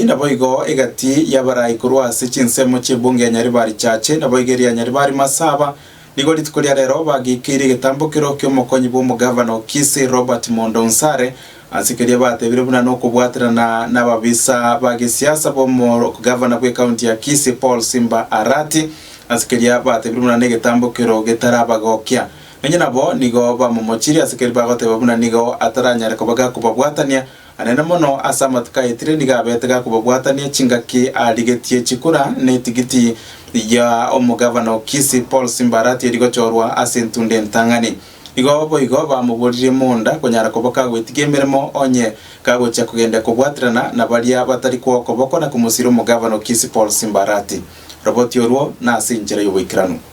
Naboigo egati y'abarai korwa ase chinsemo chi'ebungo ya Nyaribaarichache, naboigo eria Nyaribari Masaba, nigo rituko ria rero bagiikeirie egetambokero ki'omokonyi bw'omogavana o Kisii, Robert Mondo Nsare, ase keria bateebire buna nokobwaterana nababisa ba gesiasa bw'omogavana bw'ekaunti ya Kisii, Paul Simba Arati, ase keria bateebire buna negetambokero getarabagokia. Nonya nabo nigo bamomochirie ase keria bagoteeba buna nigo ataranyare koba gakobabwatania, Anene mono ase amatuko ayetire nigo abete gakobabwatania chingaki arigetie chikura na etigiti ya omogavana o Kisii Paul Simba Arati eri gochorwa ase entunda entang'ani. Igo boigo bamoboririe monda konyara koba kagwetigia emeremo onye kagochia kogenda kobwaterana na baria batari kwa okoboko na komosira omogavana o Kisii Paul Simba Arati. Roboti orwo nase inchera y'oboikeranu.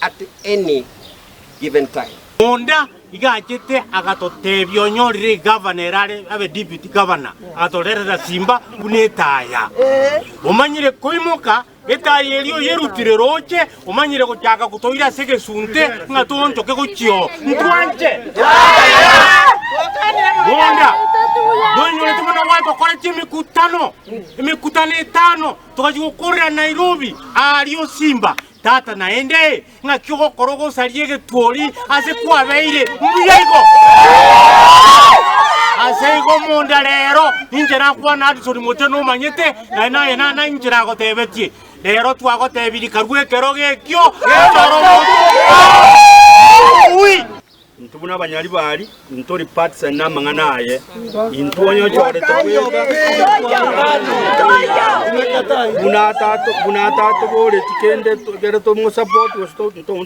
at any given time. Monda iga achete agatotebia onyorire egavana ere are abe deputy governor, agatorerera simba buna etaya. Omanyire koimoka etaya eria oyerutire roche, omanyire gochaka gotoira ase egesunte ng'a toonchoke gochia oo. Ntwanche? Monda noinyorete buna gware tokorete emekutano, emekutano etano, togachia gokorera Nairobi, aaria osimba. Tata, naende ng'aki ogokora ogosaria egetwori ase kwabeire mbuya igo? Ase igo monda reero ninche nakwane Addison mote nomanyete, naende naye nana inche nagotebetie. Reero twagotebirie karue ekerogo ekio, nonyore omonto oyomo. Intwe buna abanyari bari, intwe tori parts and namang'ana aye, intwe onye ochorete buna atatoboreti kende ekero tomosupport gose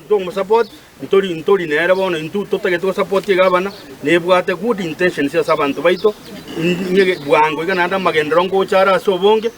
tomosupport ntori ntori nere bono intwe totagete gosupport egabana nebwate good intentions ase abanto baito bwango iga naende amagenderero ngocha are ase obonge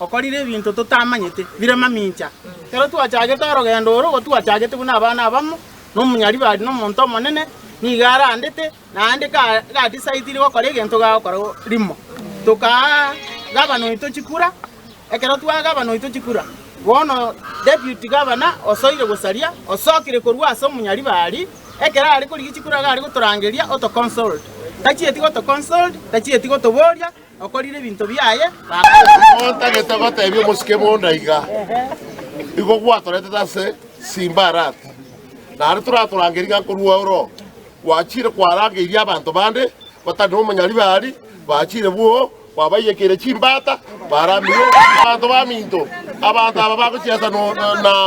okorire ebinto totamanyete, bire mamincha. Ekero twachagete orogendo oro, igo twachagete buna abana abamo, na omonyaribari na omonto omonene nigo arandete, na aande gatisaetiri gokora egento gagokora rimo. Tokaa gavana oito chikura. Ekero twaa gavana oito chikura, bono deputy gavana osoire gosaria, osokire korwa ase omonyaribari, ekero are korigia chikura iga are gotorangeria oto consult. Tachieti goto consult, tachieti gotoboria. Okorire ebinto biaye, Baba. Otagete gotebia omosike bonda iga, Igo gwatoretete ase Simbarati, naende toratorangerie ng'a nkorwa oro gwachire kwarangeirie abanto bande batari nomonyari baari bachire bwoo kwabaiyekeire chimbata baramie abanto baminto, abanto aba bagochiasa no- na